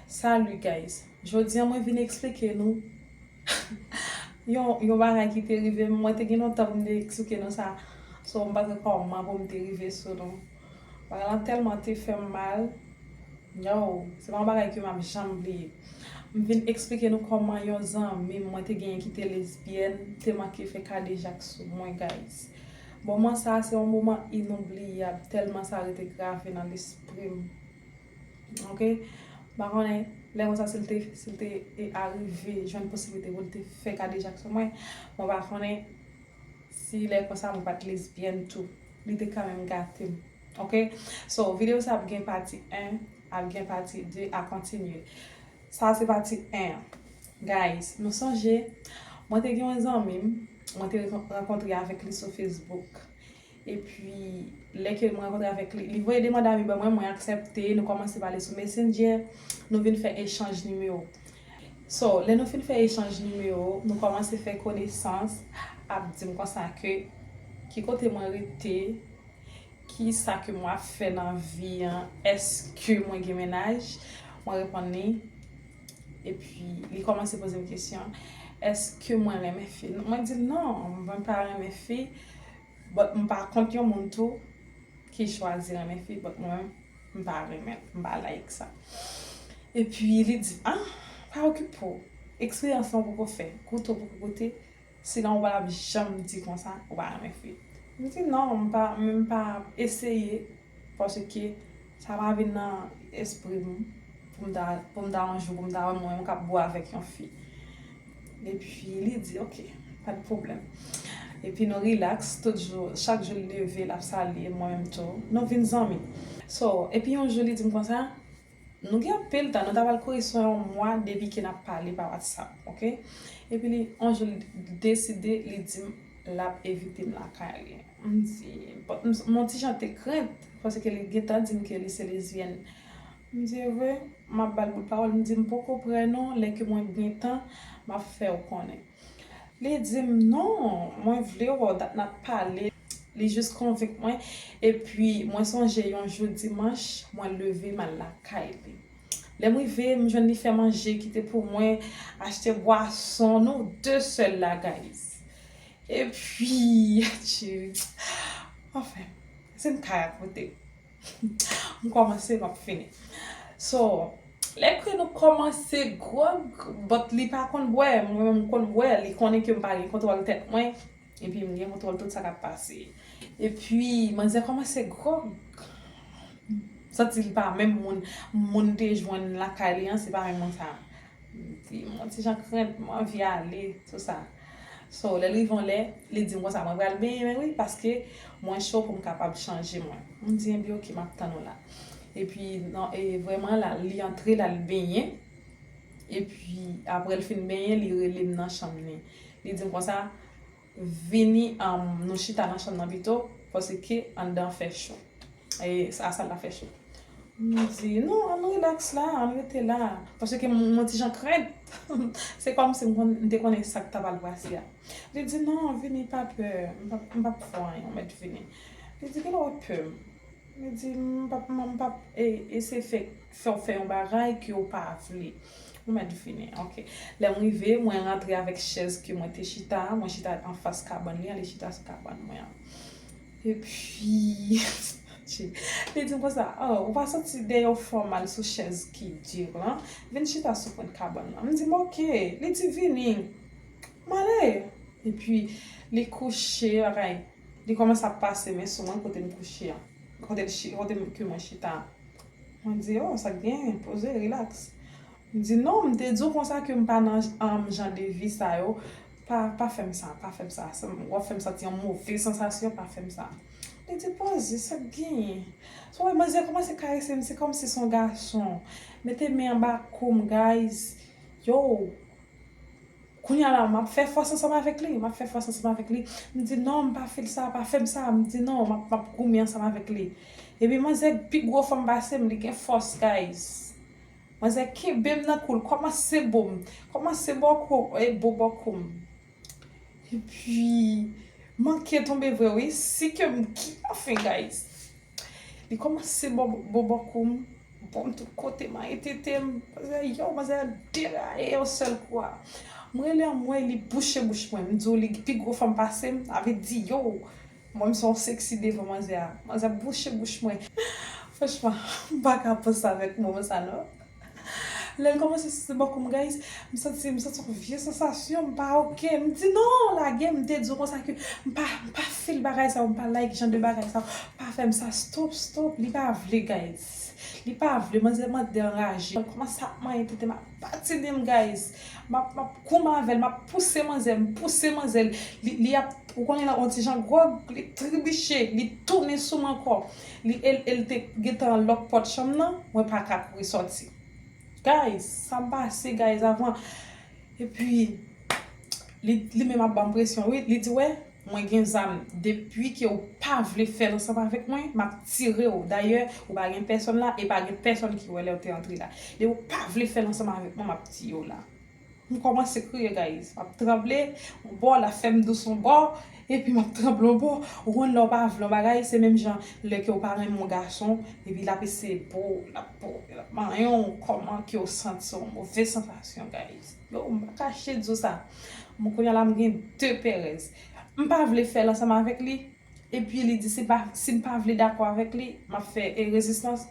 Salut guys jodi an mwen vin esplike nou yon bagay ki te rive m mwen te gen lontan pou m te esplike nou sa so m pa gen kòman pou m te rive sou nou bagay lan tèlman te fè m mal yow se pa yon bagay ke m ap janm bliye m vin esplike nou kòman yon zanmi m mwen te genyen ki te lesbyèn te manke fè kadejak sou mwen guys moman sa se yon moman inoubliyab tèlman sa rete grave nan lespri m. Ok pa konnen lè konsa sil te sil te arive jwenn posiblite poul te fè kadejak sou mwen mwen pa konnen si lè konsa mwen pat lesbyèn tou li te kanmenm gatem ok so video sa ap gen pati 1 ap gen pati 2 a kontinye sa se pati 1 an guys nou sonje mwen te gen yon zanmim mwen te rankontre avèk li sou Facebook Epi, lè ke m rankontre avèk li, li voye demand ami ban mwen, mwen aksèpte, nou kòmanse pale sou Messenger, nou vin fè echanj nimewo. So, lè nou fin fè echanj nimewo, nou kòmanse fè konesans, ap di m konsa ke ki kote mwen rete, ki sa ke mwen ap fè nan vi an, èske mwen gen mennaj, mwen reponn li, epi li kòmanse poze m kesyon, èske mwen renmen fi? Mwen di l non, mwen pa renmen fi, But m pa kont yon moun tou ki chwazi renmen fi but mwen m pa renmen l m pa like sa epi li di m ah pa okipe w eksperyans lan w poko fè goute w poko goute sinon w pa tap janm di konsa ou pa renmen fi m di non m pa men m pa eseye Paske sa pa vin nan espri m pou m ta, pou m ta yon jou pou m ta wè mwen menm k ap bo avèk yon fi. Epi li di ok, pa t pwoblèm. Epi nou rilaks tout jou, chak jou l leve l ap salye m mwen menm tou. Nou vin zanmi. So, epi yon jou li di m konsa. Nou gen anpil tan nou ta pral kouri swen yon mwa depi ke nap pale pa watsap ok epi li yon jou li deside li dim lap evitem lakay li mdi m yon ti jan te krent paske li gentan dim ke li se lesbienne mdi evre map bal bout pawol mdi m poko prè non lè ke mwen gen tan map fèw konnen. Li di m, Non, mwen vle wè w dat n ap pale. Li jis konvenk mwen. Epi, mwen sonje yon jou dimanch, mwen leve m al lakay li. Lè m rive, m jwenn li fè manje ki te pou mwen, achte bwason. Nou de sèl la, guys. Epi, tchiips. Anfen, si m ka rakonte. M kòmanse map fini So lè ke nou kòmanse gròg But li pa konn bwè mwen menm m konn bwè Li konnen ke m pa gen kontwòl tèt mwen Epi m gen kontwòl tout sa kap pase Epi manzè kòmanse gròg M santi li pa menm moun Moun m te jwenn lakay li an se pa menm moun sa di m yon ti jan krent, m anvi ale, tou sa. So, lè l rive yon lè, li di m konsa, mwen pral benyen wi, paske mwen cho pou m kapab chanje mwen. M di, enbi oke, m ap tann ou la. Epi, nan, e vrèman la, li antre, l al benyen. Epi, apre l fin benyen, li rele m nan chanm ni. Li di m konsa. Vini nou chita nan chanm nan pito paske anndan fè cho. E a sal la fè cho. M di non ann relax la, ann rete la. Paske m yon ti jan krent. Se kòmsi m te konnen sa k ta pral pase a. Li di non vini pa pè. M pap fè w anyen ou mèt vini. Li di ki lè w wè pè m. Li di, M pa p man, m pa p eseye fè fè w fè yon bagay ke w pa vle. Ou mèt vini. Ok. Lè m rive, mwen rantre avèk chèz ke mwen te chita a, mwen chita anfas kabann li a, li chita sou kabann mwen an. Epi, Sache, li di m konsa, Oh, ou pa santi dèyè w fè w mal sou chèz ki dur lan? Vin chita sou pwent kabann lan. M di m, Ok. Li di, Vini. M ale. Epi, li kouche lakay. Li kòmanse ap pase men sou mwen kote m kouche an. Kote l chi, kote ke mwen chita an. Mwen di, oh, sa k genyen? Poze, relax. Li di, non, m te di w konsa ke m pa nan um jan de vi sa yo. Pa, pa fè m sa, pa fè m sa. Sa m, w ap fè m santi yon move sansasyon, pa fè m sa. Li di, poze, sa k genyen? Sou wè, manzè kòmanse karese m, se kòmsi se yon gason. Mete men anba kou m, guys. Yow! Kounye a la, m ap fè fòs ansanm avèk li, m ap fè fòs ansanm avèk li. M di, non, m pa fè l sa, pa fè m sa. M di, non, m ap goumen ansanm avèk li. Epi manzè pi gwo fanm pase m, li gen fòs, guys. Manzè kenbe m nan kou l, kòmanse bo m, kòmanse bòko, e bo bòko m. Epi, manke tonbe vre wi, si ke m, anfen, guys. Li komanse bobo kou m, bo m tout kote, manyen tete m. Manzè a yow, manzè a deraye yon sèl kou a. M rele anmwey li bouche bouch mwen. M di w li pi gwo fanm pase m, sa vle di yow. Mwen m se yon seksi devan manzè a. Manzè a bouche bouch mwen. Franchman, m pa ka panse avèk moman sa non. Lèl kòmanse sise bò koum guys m santi m santi yon vye sansasyon m pa ok m di non lage m te di w konsa ke m pa m pa fil bagay sa yo m pa like jan de bagay sa yo pa fèm sa stop stop li pa vle guys li pa vle manzè m antre anraje m kòmanse ap manyen tete m ap patine m guys m ap m ap koum avèl m ap pouse manzè m pouse manzè li ap ou konnen lè yon ti jan gwòg li tribiche li tounen sou m ankò. li el el te gentan an lòk pòt chanm nan mwen paka kouri sòti guys sam pase guys avan epi li li menm ap banm presyon wi li di wè mwen gen zam depi ke ou pa vle fèl ansanm avèk mwen map tirew dayè ou pa gen pèsòn la e pa gen pèsòn ki wè lèw te antre la depi ou pa vle fèl ansanm avèk mwen map tiyew la. M kòmanse kriye guys map tranble yon bò lap fèm dous yon bò epi map tranble yon bò ou konn lèw pa vle yon bagay se menm jan lè kew pa renmen yon gason epi lap eseye bow lap bow lap manyenw kòman kew santi se yon move sansasyon guys oh m pa kache diw sa bon kounya la m gen de perèz m pa vle fèl ansanm avèk li epi li di sim pa vle dakò avèk li map fè rezistans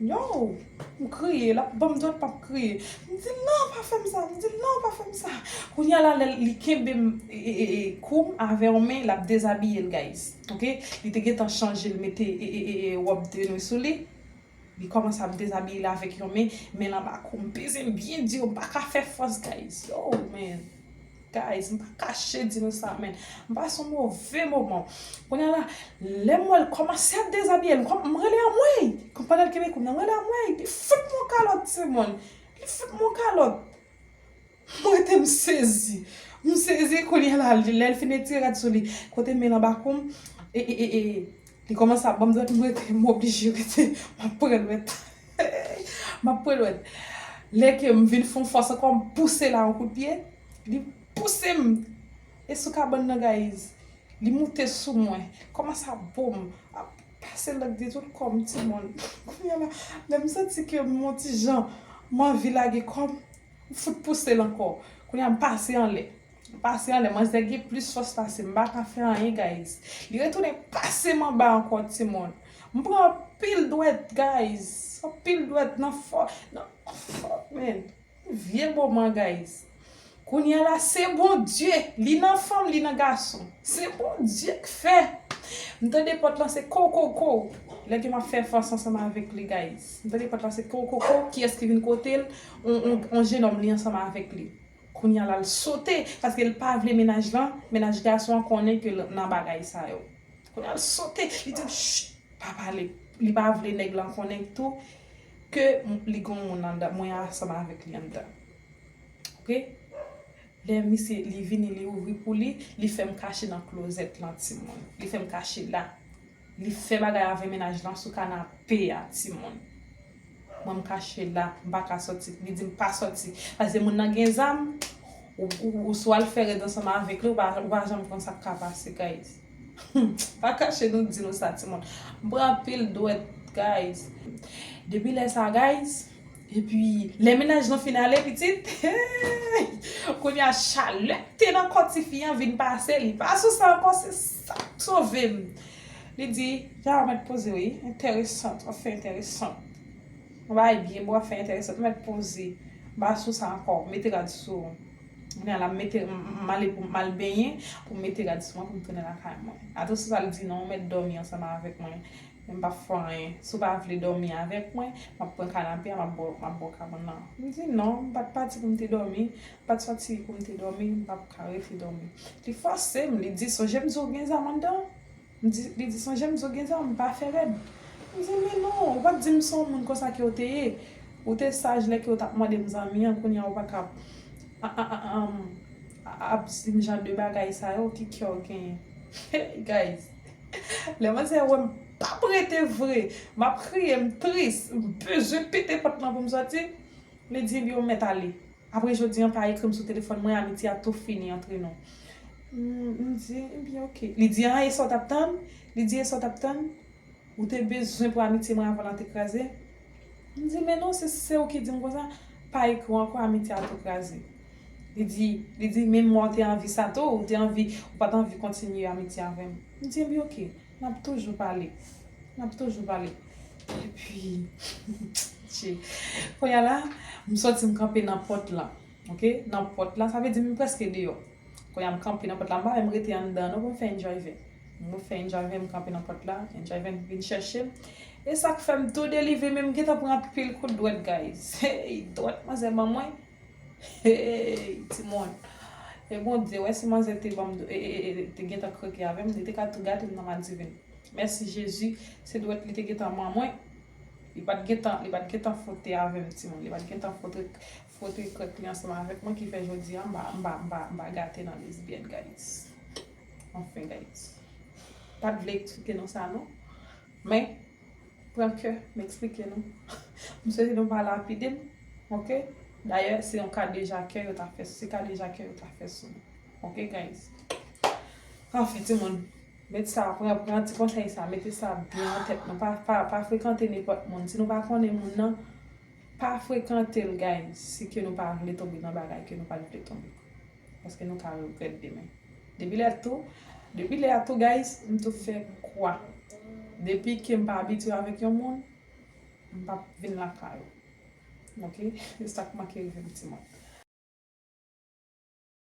Yow! M kriye, l ap ban m dwèt m ap kriye. M di l non pa fè m sa, m di l non pa fè m sa. Kounye a la lè li kenbe m kou m avè yon men, l ap dezabiye l guys. Ok, li te gentan chanje l mete wòb de nuit sou li, li kòmanse ap dezabiye l avèk yon men, men l anba kou m. M peze m byen di yo, m pa ka fè fòs guys. Yow man! Guys m pa kache di nou sa men m pase yon move moman Kounye a la lè m wè l kòmanse ap dezabiye m kòman m rele anmwey Kon pandan l kenbe kou m nan m rele anmwey li fout m yon kalòt timoun li fout m yon kalòt m rete m sezi m sezi kounye a la lè l fin etire rad sou li kote men l anba kou m e e e e Li komanse ap banm dwèt m rete m oblije rete map pran dwèt map pran dwèt lè ke m vin fon fòs ankò m pouse la yon kout pye li pouse m e sou kabann nan gayiz li moute sou mwen komanse ap bo m ap pase lang li tout kò m ti moun kounya la lè m santi ke m yon ti jan m anvi lage kò m m fout pouse l ankò kounya m pase anlè. M pase anlè manzè gen plis fòs pasem m paka fè anyen guys li retounen pasem anba ankò timoun m pran anpil dwèt guys anpil dwèt nan fò nan fò men yon vye moman guys kounya la se Bondye li nan fanm li nan gason se Bondye k fè m tande pòt lan se kow kow kow lè ke map fè fòs ansanm avèk li guys m tande pòt lan se kow kow kow kiyès ki vin kotel yon jenòm li ansanm avèk li. Kounya la l sote paske l pa vle menaj lan menaj gason an konnen ke l nan bagay sa yo kounya l sote li di l chut pa pale li pa vle nèg lan konnen tou ke li gon moun anndan mwen ansanm avèk li anndan ok lè misye li vini li ouvri pou li li fè m kache nan klozèt lan timoun li fè m kache la. Li fè bagay avè mennaj lan sou kanape a ti moun. Mwen m kache la, m pa ka sòti. Li di m pa sòti. Pase moun nan gen zam, ou sou al fè rèd ansanm avèk li, ou pa ou pa janm konn sa k ka pase guys. Humm, m pa kache nou di nou sa ti moun. M pran anpil dwèt guys. Depi lè sa guys. Epi lè mennaj lan fin ale pitit eeyy kounye a chalè k te nan kò tifi an vin pase li pa sou sa ankò se sa k sove m li di ya w mèt poze wi entèresant w ap fè entèresant w ap bay byen bon w ap fè entèresant mèt poze m pa sou sa ankò mete rad sou w kounye a la m mete m ale pou m al benyen pou m mete rad sou mwen pou m tounen lakay mwen a to sou sa li di non w mèt dòmi ansanm avèk mwen Men m pap fè w anyen. Si w pa vle dòmi avèk mwen, m ap pran kanape a, m ap bo w kabann lan. M di non, m pa t pati pou m te dòmi, m pa t soti pou m te dòmi, m pap ka rete dòmi. Li fòse m, li di sonje m di w gen zam anndan an? Li di sonje m di w gen zam, m pa fè rèd. M di men non, ou pa t di m se w moun konsa ke w te ye. Ou te saj lè ke w t ap mande m zanmi an, kounye a ou pa ka ap di m jan de bagay sa yo, ki kè w genyen? Hey guys! Lè mwen se wèm pap rete vre map kriye m tris m bezwen pete pòt lan poum sòti li di yo mèt ale apre jodi an pa ekrim sou telefòn mwen amitye a tou fini antre nou m di ebyen ok li di an esa w tap tann li di esa w tap tann ou te bezwen pou amitye mwen avan lan te kraze. M di, men non, si se ou ki di m konsa, pa ekri w ankò, amitye a tou kraze. Li di, li di, men mwa ou te anvi sa tou, ou te anvi, ou pa t anvi kontinye amitye avè m. M di, enben oke, n ap toujou pale, n ap toujou pale. Epi, Dye! Kounye a la, m sòti m kanpe nan pòt lan. Ok nan pòt la sa vle di m prèske deyò kounye a m kanpe nan pòt la m pa menm rete anndan non pou m fè enjòyvè m fè enjòyvè m kanpe nan pòt la enjòyvè m vin chèche m e sak fè m tou delivre men m gentan pran anpil kout dwèt guys hey dwèt manzè ban mwen hey ti moun e Bondye wè si manzè te ban m ee te gentan kreke avè m li te ka tou gate m nan madivin mèsi Jezi se dwèt li te gentan ban mwen li pat gentan li pat gentan fwote avè m ti moun li pat gentan fwote Kote krèk li ansanm avèk mwen ki fè jodi a m pa gate nan lesbienne guys anfen guys m pat vle eksplike nou sa non men pran kè m eksplike nou m swete nou pa lapide m ok dayè se yon kadejakè yo ta fè se kadejakè yo ta fè sou mwen ok guys anfen timoun met sa pran ti konsèy sa mete sa byen nan tèt nou pa frekante nenpòt moun si nou pa konnen moun nan. Pa frekantel guys si ke nou pa vle tonbe nan bagay ke nou pat vle tonbe paske nou ka regrèt demen depi lè tou depi lè a tou guys m tou fè kwa depi ke m pa abitye avèk yon moun m pap vin lakay ou ok se sak manke rivem ti moun.